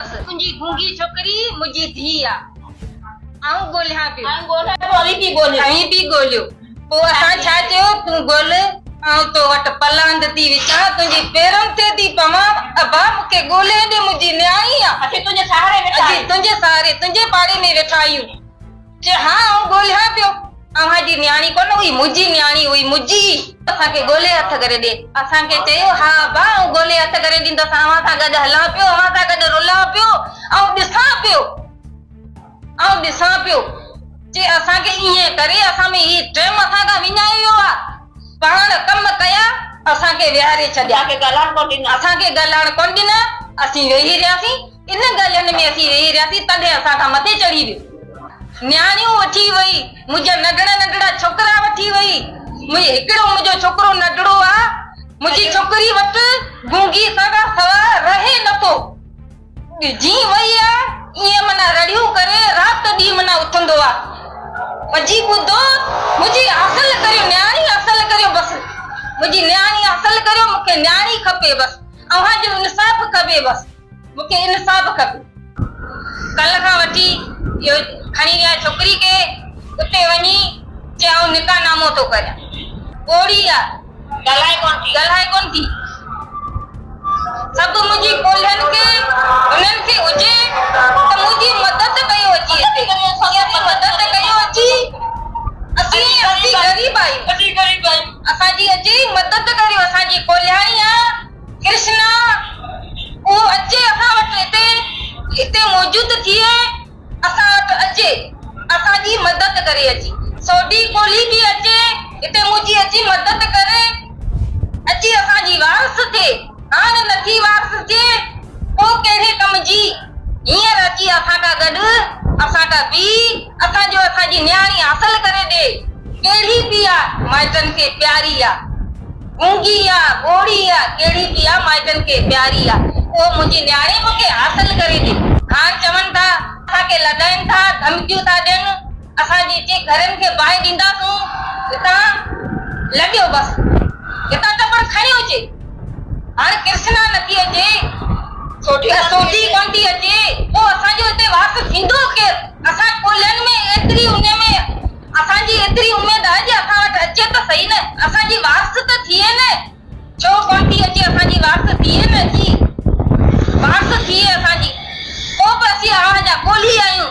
تنهنجي گونگي ڇوڪري منهنجي ڌيء آ. آئون ڳولهيان پيو. آئون ڳولهيان پيو اوهين به ڳولهيو. اوهين به ڳولهيو. پوء اسان ڇا چيو؟ تون ڳولهه آئون تو وٽ پلاند ٿي وچان تنهنجي پيرن تي ٿي پوان. ابا مون کي ڳولهي ڏي منهنجي نياڻي آ. اسين تنهنجي سهاري ويٺا آهيون. اسين تنهنجي سهاري تنهنجي پاڙي ۾ ويٺا آهيون. چي ها آئون ڳولهيان پيو. اوهان جي نياڻي ڪونه هئي، منهنجي نياڻي هئي، منهنجي ئي. اسان کي ڳولهي هٿ ڪري ڏي. اسان کي چيو، ها ابا آئون ڳولهي هٿ ڪري ڏيندس، اوهان سان گڏ هلان پيو، اوهان سان گڏ رلان پيو، آئون ڏسان پيو، آئون ڏسان پيو. چي اسان کي ائين ڪري اسان ۾ هي ٽيم اسان کان وڃائي ويو آ. پاڻ ڪم ڪيا، اسان کي ويهاري ڇڏيا. اسان کي ڳالهائڻ ڪونه ڏنا، اسان کي ڳالهائڻ ڪونه ڏنا، اسين ويهي رهياسين. ان ڳالهين ۾ اسين ويهي رهياسين تڏهن اسان کان مٿي چڙهي ويو. نياڻيون وٺي وئي، منهنجا ننڍڙا ننڍڙا ڇوڪرا وٺي وئي. منهنجي هڪڙو منهنجو ڇوڪرو ننڍڙو آ. منهنجي ڇوڪري وٽ گونگي سان کان سوا رهي نه ٿو. جيئن وئي آ، ايئن منا رڙيون ڪري رات ڏينهن منا اٿندو آ. پڄي ٻڌو، منهنجي حاصل ڪريو، نياڻي حاصل ڪريو بس. منهنجي نياڻي حاصل ڪريو، مون کي نياڻي کپي بس. اوهان جو انصاف کپي بس. مون کي انصاف کپي. ڪلهه کان وٺي اهو کڻي ويا ڇوڪري کي اتي وڃي چي آئون نڪاح نامو ٿو ڪريان پوڙهي آ ڳالهائي ڪونه ٿي ڳالهائي ڪونه ٿي سڀ منهنجي ڪولهين کي هنن کي هجي ته منهنجي مدد ڪيو اچي هتي اسين مدد ڪيو اچي اسين اسين غريب آهيون اسين غريب آهيون اسان جي اچي مدد ڪريو اسان جي ڪولهياڻي آ. ڪرشنا، اهو اچي اسان وٽ هتي هتي موجود ٿئي اسان وٽ اچي اسان جي مدد ڪري اچي سوڍي ڪولهي به اچي هتي منهنجي اچي مدد ڪري اچي اسان جي وارث ٿئي هاڻ نه ٿي وارث ٿئي پوء ڪهڙي ڪم جي هينئر اچي اسان کان گڏ اسان کان بيهي اسان جو اسان جي نياڻي حاصل ڪري ڏي ڪهڙي به آ مائٽن کي پياري آ. گونگي آ، ٻوڙي آ، ڪهڙي به آ، مائٽن کي پياري آ، اهو منهنجي نياڻي مون کي حاصل ڪري ڏي. خان چون ٿا، اسان کي لڏائين ٿا، ڌمڪيون ٿا ڏين، اسان جي چي گهرين کي باهه ڏينداسون، هتان لڏيو بس، هتان ٽپڻ کڻي اچي، هاڻ ڪرشنا نه ٿي اچي، سوڍي ڪونه ٿي اچي، پوء اسان جو هتي واس ٿيندو ڪير، اسان ڪولهين ۾ ايتري انهي ۾. اسان جي ايتري اميد آهي جي اسان وٽ اچي ته سهي نه اسان جي وارث ته ٿئي نه ڇو ڪونه ٿي اچي اسان جي وارث ٿئي نه اچي وارث ٿئي اسان جي پوء به اسين اوهان جا ڳولهي آهيون.